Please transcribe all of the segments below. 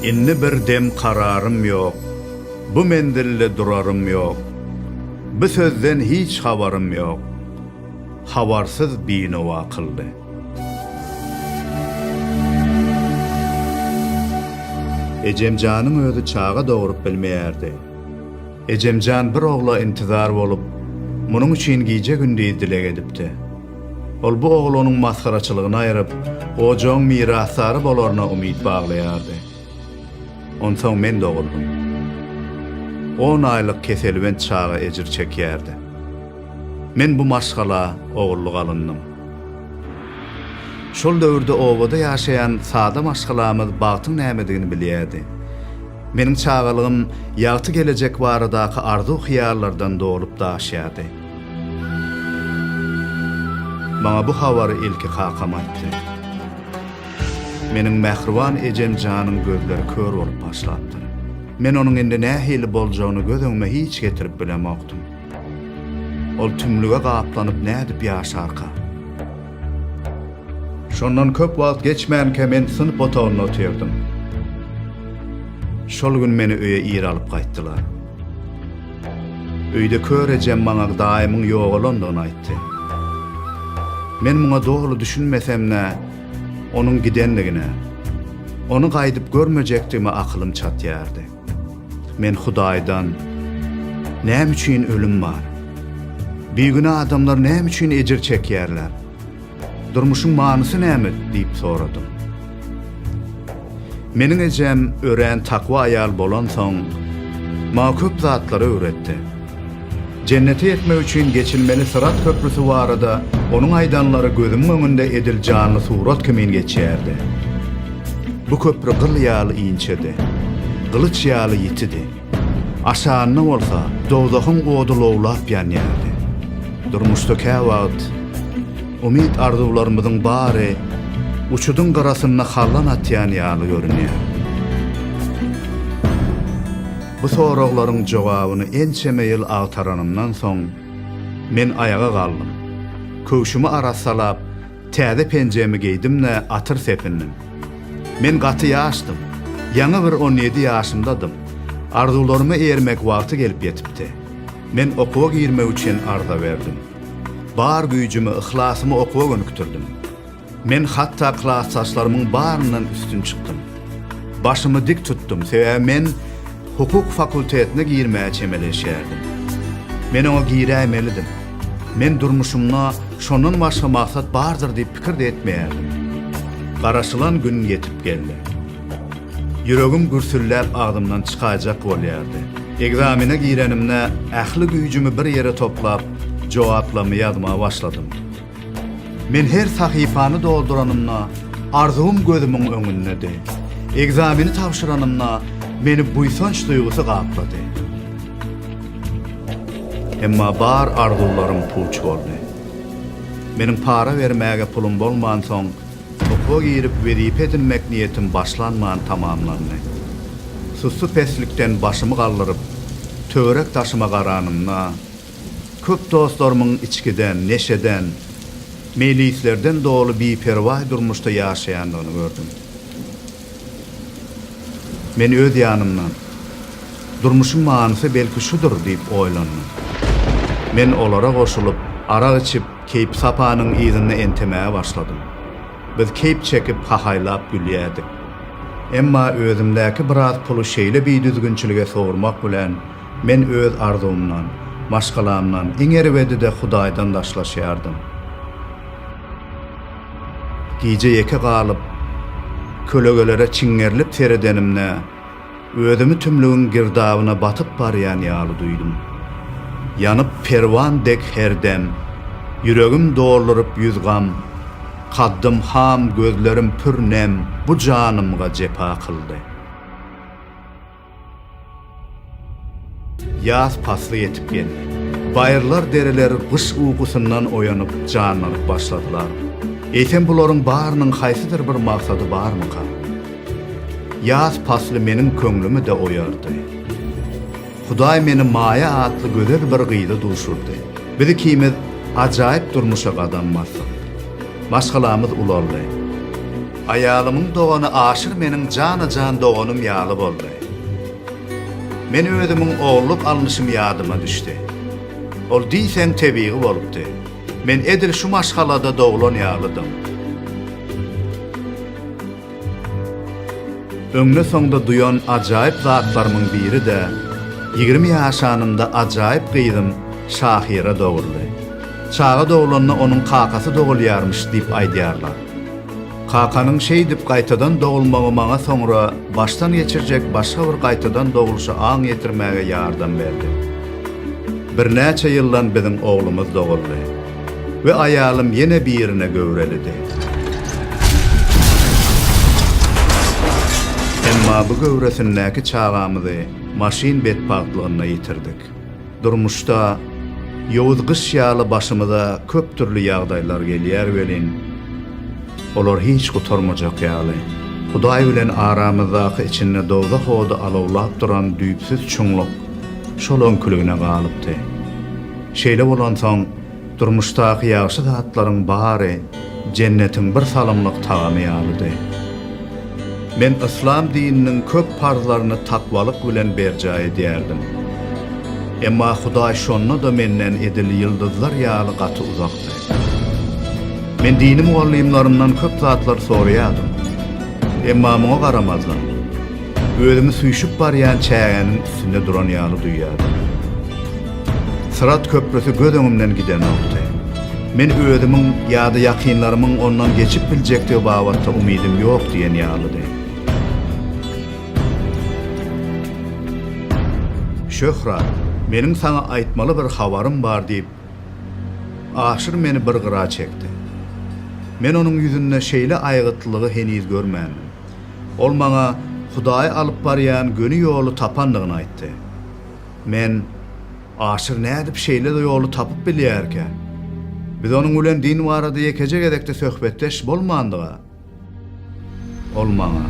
Indi bir dem kararym ýok, Bu menzilde durarym ýok, Bu sözden hiç habarym ýok, Habarsyz binowa kyldy. Ejemjanyň özi çaga dogrup bilmeýärdi. Ejemjan bir ogla intizar bolup, munuň üçin gije-gündiz dileg edipdi. Ol bu oglanyň masgaraçylygyny aýryp, ojagyň mirasdary bolaryna umyt baglaýardy. Onsoň men doguldym. On aýlyk keselbent çaga ejir çekýärdi. Men bu maşgala ogullyk alyndyň. Şol döwürde obada ýaşaýan sada maşgalamyz bagtyň nämedigini bilýärdi. Meniň çagalygym ýagty gelejek baradaky arzuw-hyýallardan dolup-daşýardy. Maňa bu habary ilki kakam aýtdy. Meniň mähriban ejem janyň gözleri kör bolup başlapdyr. Men onuň indi nähili boljagyny göz öňüme hiç getirip bilemokdym. Ol tümlüge gaplanyp nädip ýaşarka? Şondan köp wagt geçmänkä men synp otagynda otyrdym. Şol gün meni öýe ir alyp gaýtdylar. Öýde kör ejem maňa daýymyň ýogalandygyny aýtdy. Men muňa doly düşünmesem-de, onuň gidendigine, ony gaýdyp görmejekdigime akylym çatýardy. Men Hudaýdan, Näme üçin ölüm bar? Bigünä adamlar näme üçin ejir çekýärler? Durmuşyň manysy näme? diýip soradym. Meniň ejem örän takwa aýal bolansoň, maňa köp zatlary öwretdi. Jennete ýetmek üçin geçilmeli syrat köprüsi barada onuň aýdanlary gözümiň öňünde edil janly surat kimin geçýärdi. Bu köpri gyl ýaly inçedi. Gylyç ýaly ýitidi. Aşagynda bolsa dowzahyň ody lowlap ýanýardy. Durmuşda käwagt umyt-arzuwlarymyzyň bary uçudyň gyrasynda hallan atýan ýaly görünýär. Bu soraglaryň jogabyny ençeme ýyl agtaranymdan soň, men aýaga galdym. Köwşümi arassalap, Täze penjemi geýdim-de atyr sepindim. Men gaty ýaşdym. Ýaňy bir on ýedi ýaşymdadym. Arzuwlaryma eýermek wagty gelip ýetipdi. Men okuwa girmek üçin arza berdim. Bar güýjümi, yhlasymy okuwa gönükdirdim. Men hatda klasdaşlarymyň baryndan üstün çykdym. Başymy dik tutdum, sebäbi men. Hukuk fakultetine girmäge çemeleşýärdim. Men oňa giräýmelidim. Men durmuşymda şondan başga maksat bardyr diýip pikir-de etmeýärdim. Garaşylan gün ýetip geldi. Ýüregim gürsülläp agzymdan çykaýjak bolýardy. Ekzamene girenimde ähli güýjümi bir ýere toplap, jogaplamy ýazmaga başladym. Men her sahypany dolduranymda, arzuwym gözümiň öňündedi. Ekzameni tabşyranymda, meni buýsanç duýgusy gaplady. Emma bar arzuwlarym puç boldy. Meniň para bermäge pulum bolmansoň, okuwa girip wezipe edinmek niýetim başlanman tamamlandy. Sussy peslikden başymy galdyryp, töwerek-daşyma garanymda, Köp dostlarymyň içgiden, neşeden, meýlislerden doly biperwaý durmuşda ýaşaýandygyny gördüm. Men öz ýanymdan, Durmuşyň manysy belki şudur diýip oýlandym. Men olara goşulyp, arak içip, keýpi-sapanyň yzynda entemäge başladym. Biz keýp çekip, hahaýlap gülýärdik. Emma özümdäki biraz puly şeýle bidüzgünçilige sowurmak bilen, Men öz arzuwymdan, maşgalamdan, iň erbedi-de Hudaýdan daşlaşýardym. Gije ýeke galyp, kölegelere çiňňerilip seredenimde, özümi tümlügiň girdabyna batyp barýan ýaly duýdum. Ýanyp perwan dek her dem, ýüregim dolduryp ýüz gam, kaddym ham, gözlerim pür nem bu janymga jepa kyldy. Ýaz pasly ýetip geldi. Baýyrlar-dereler gyş ukusyndan oýanyp, janlanyp başladylar. Eýsem bularyň barynyň haýsydyr bir maksady barmyka? Ýaz pasly meniň köňlümi-de oýardy. Hudaý meni Maýa atly gözel bir gyza duşurdy. Biz ikimiz ajaýyp durmuşa gadam basdyk. Maşgalamyz ulaldy. Aýalymyň dogany Aşyr meniň jana-jan doganym ýaly boldy. Men özümiň ogulluk alnyşym ýadyma düşdi. Ol diýseň tebigy bolupdy. Men edil şu maşgalada doglan ýalydym. Öňde-soňda duýan ajaýyp zatlarymyň biri-de, ýigrimi ýaşanynda ajaýyp gyzym Şahyra doguldy. Çaga doglanda onuň kakasy dogulýarmyş diýip aýdýarlar. Kakanyň şeýdip gaýtadan dogulmagy maňa soňra başdan geçirjek başga bir gaýtadan dogluşa aň ýetirmäge ýardam berdi. Birnäçe ýyldan biziň oglumyz doguldy we aýalym ýene birine göwrelidi. Emma bu göwresindäki çagamyzy maşyn betbagtlygynda ýitirdik. Durmuşda ýowuz gyş ýaly başymyza köp dürli ýagdaýlar gelýär welin, olar hiç gutarmajak ýaly. Hudaý bilen aramyzdaky içinde dowzah ody alawlap duran düýpsüz çuňluk şol öňküligine galypdy. Şeýle bolansoň, Durmuşdaky ýagşy zatlaryň bary jennetiň bir salymlyk tagamy ýalydy. Men yslam dininiň köp parzlaryny takwalyk bilen berjaý edýärdim. Emma Hudaý şonda-da menden edil ýyldyzlar ýaly gaty uzakdy. Men dini mugallymlarymdan köp zatlar soraýardym. Emma muňa garamazdan, Özümi süýşüp barýan çägäniň üstünde duran ýaly duýýardym. Syrat köprüsi göz öňümden gidenokdy. Men özümiň ýa-da ýakynlarymyň ondan geçip biljekdigi babatda umydym ýok diýen ýalydy. Şöhrat, meniň saňa aýtmaly bir habarym bar diýip, Aşyr meni bir gyra çekdi. Men onuň ýüzünde şeýle aýgytlylygy heniz görmändim. Ol maňa Hudaýy alyp barýan göni ýoly tapandygyny aýtdy. Men, Aşyr nädip şeýle ýoly tapyp bilýärkä? Biz onuň bilen din barada ýekeje gezek-de söhbetdeş bolmandyga? Ol maňa,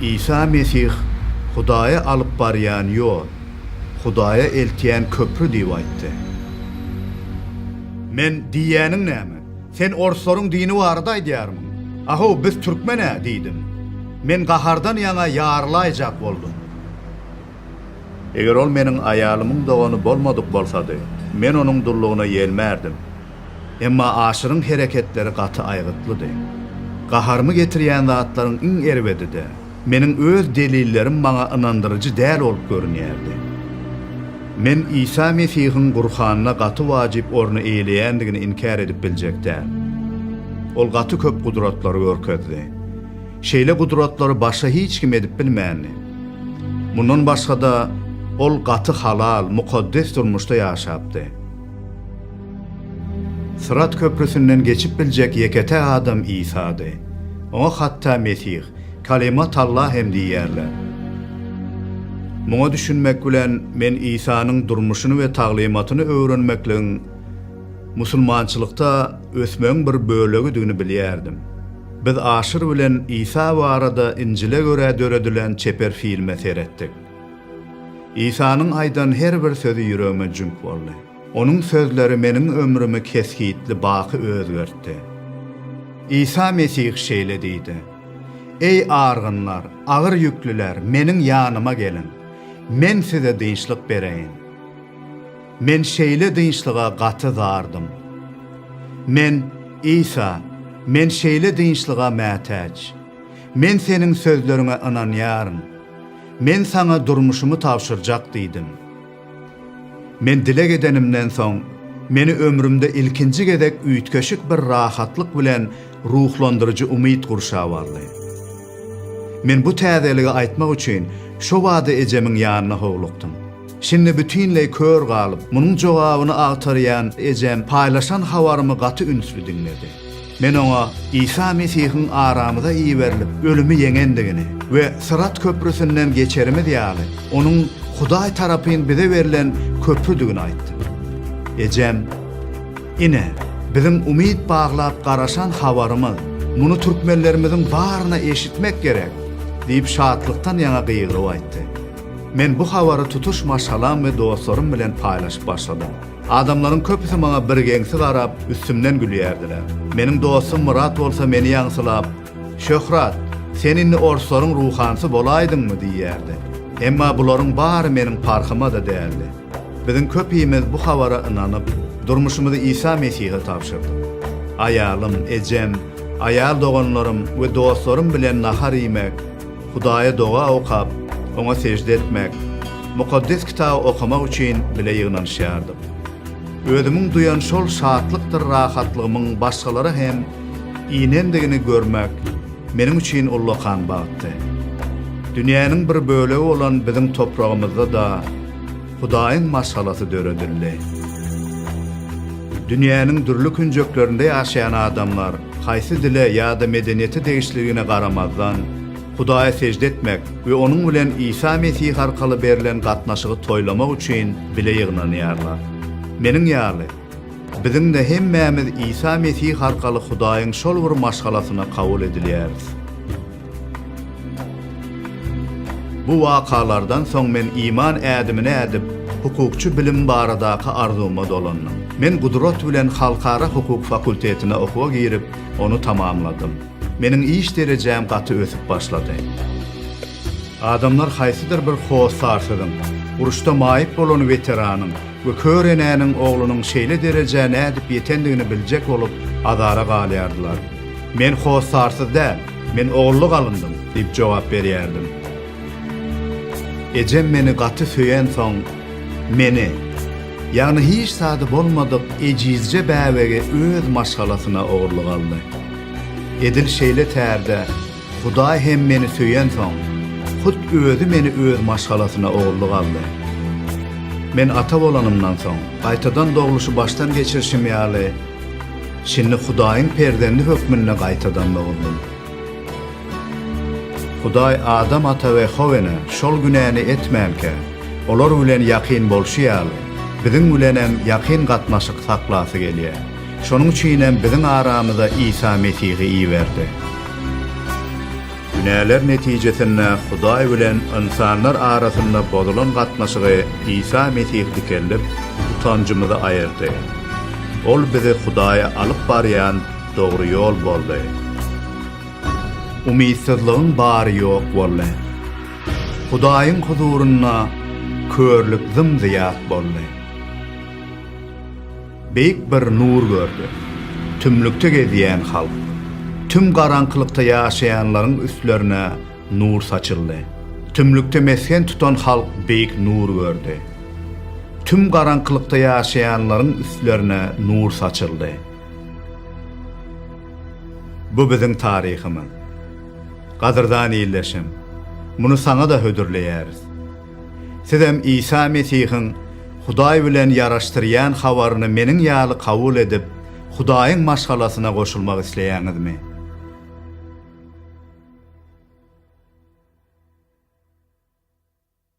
Isa Mesih Hudaýa alyp barýan ýol, Hudaýa eltýän köpri diýip aýtdy. Men, Diýýäniň näme? Sen orslaryň dini barada aýdýarmyň? A-how, biz türkmen-ä, diýdim. Men gahardan ýaňa ýarylaýjak boldum. Eger ol meniň aýalymyň dogany bolmadyk bolsady, men onuň dullugyna ýelmärdim. Emma Aşyryň hereketleri gaty aýgytlydy. Gaharymy getirýän zatlaryň iň erbedi-de, Meniň öz delillerim maňa ynandyryjy däl bolup görünýärdi. Men Isa Mesihiň Gurhanda gaty wajyp orny eýeleýändigini inkär edip biljek däl. Ol gaty köp gudratlary görkezdi. Şeýle gudratlary başga hiç kim edip bilmändi. Mundan başga-da, ol gaty halal, mukaddes durmuşda ýaşapdy. Syrat köprüsinden geçip biljek ýeke-täk adam Isady. Oňa hatda Mesih, Kalima talla hem diýýärler. Muňa düşünmek bilen men Isanyň durmuşyny we taglymatyny öwrenmekligiň musulmançylykda ösmegiň bir bölegidigini bilýärdim. Biz Aşyr bilen Isa barada Injile görä döredilen çeper filme seretdik. Isanyň aýdan her bir sözi ýüregime jüňk boldy. Onuň sözleri meniň ömrümi kesgitli baky özgertdi. Isa Mesih şeýle diýdi, Eý, argynlar, agyr ýüklüler, Meniň ýanyma geliň, Men size dynçlyk bereýin. Men şeýle dynçlyga gaty zardym. Men, Isa, Men şeýle dynçlyga mätäç. Men Seniň sözleriňe ynanýaryn. Men Saňa durmuşymy tabşyrjak diýdim. Men dileg edenimden soň, meni ömrümde ilkinji gezek üýtgeşik bir rahatlyk bilen ruhlandyryjy umyt gurşap aldy. Men bu täzeligi aýtmak üçin şo bada ejemiň ýanyna howlukdym. Şindi bütinleý kör galyp, munuň jogabyny agtarýan ejem paýlaşan habarymy gaty ünsli diňledi. Men oňa Isa Mesihiň aramyza iberilip, ölümi ýeňendigini we Syrat köprüsinden geçerimiz ýaly, onuň Hudaý tarapyn bize berlen köprüdigini aýtdym. Ejem, Ine, biziň umyt baglap garaşan habarymyz, muny türkmenlerimiziň baryna eşitmek gerek! diýip, şatlykdan ýaňa gygyryp aýtdy. Men bu habary tutuş maşgalam we dostlarym bilen paýlaşyp başladym. Adamlaryň köpüsi maňa birgeňsi garap, üstümden gülýärdiler. Meniň dostum Myrat bolsa meni ýaňsylap, Şöhrat, sen indi orslaryň ruhansy bolaýdyňmy? diýýärdi. Emma bularyň bary meniň parhyma-da däldi. Biziň köpimiz bu habara ynanyp, durmuşymyzy Isa Mesihe tabşyrdyk. Aýalym, ejem, aýal doganlarym we dostlarym bilen nahar iýmek, Hudaýa doga okap, oňa sežde etmek, Mukaddes Kitaby okamak üçin bile ýygnanyşýardyk. Özümiň duýan şol şatlykdyr rahatlygymyň başgalara hem inendigini görmek meniň üçin ullakan bagtdy. Dünýäniň bir bölegi bolan biziň topragymyzda-da, Hudaýyň maşgalasy döredildi. Dünýäniň dürli künjeklerinde ýaşaýan adamlar, haýsy dile ýa-da medeniýete degişliligine garamazdan, Hudaýa sežde etmek we onuň bilen Isa Mesih arkaly berlen gatnaşygy toýlamak üçin bile ýygnanýarlar. Meniň ýaly, biziň-de hemmämiz Isa Mesih arkaly Hudaýyň şol bir maşgalasyna kabul edilýäris. Bu wakalardan soň men iman ädimini ädip, hukukçy bilim baradaky arzuwyma dolandym. Men gudrat bilen halkara hukuk fakultetine okuwa girip, ony tamamladym. Meniň iş derejäm gaty ösüp başlady. Adamlar haýsydyr bir hossarsyzyň, uruşda maýyp bolan weteranyň we kör enäniň oglunyň şeýle derejä nädip ýetendigini biljek bolup, azara galýardylar. Men hossarsyz däl. Men ogurlyk alyndyň, diýip jogap berýärdim. Ejem meni gaty söýensoň, meni, ýagny hiç zady bolmadyk ejizje bäbegi öz maşgalasyna ogurlyk aldy. Edil şeýle tärde Hudaý hem meni söýensoň, hut Özi meni öz maşgalasyna ogurlyk aldy. Men ata bolanymdan soň, gaýtadan dogluşy başdan geçirişim ýaly, Şindi Hudaýyň perzendi hökmünde gaýtadan dogdum. Hudaý Adam ata we Howene şol günäni etmänkä, olar bilen ýakyn bolşy ýaly, biziň bilenem ýakyn gatnaşyk saklasy gelýär. Şonuň üçinem biziň aramyza Isa Mesihi iberdi. Günäler netijesinde Hudaý bilen ynsanlar arasynda bozulan gatnaşygy Isa Mesih dikeldip, utanjymyzy aýyrdy. Ol bizi Hudaýa alyp barýan dogry ýol boldy. Umytsyzlygyň bary ýok boldy. Hudaýyň huzurynda körlük zym-zyýat boldy. Beýik bir nur gördi. Tümlükde gezýän halk, tüm garaňkylykda ýaşaýanlaryň üstlerine nur saçyldy. Tümlükde mesgen tutan halk beýik nur gördi. Tüm garaňkylykda ýaşaýanlaryň üstlerine nur saçyldy. Bu biziň taryhymyz. Gadyrdan ildeşim, muny saňa-da hödürleýäris. Sizem Isa Mesihiň Hudaý bilen ýaraşdyrýan habaryny meniň ýaly kabul edip, Hudaýyň maşgalasyna goşulmak isleýäňizmi?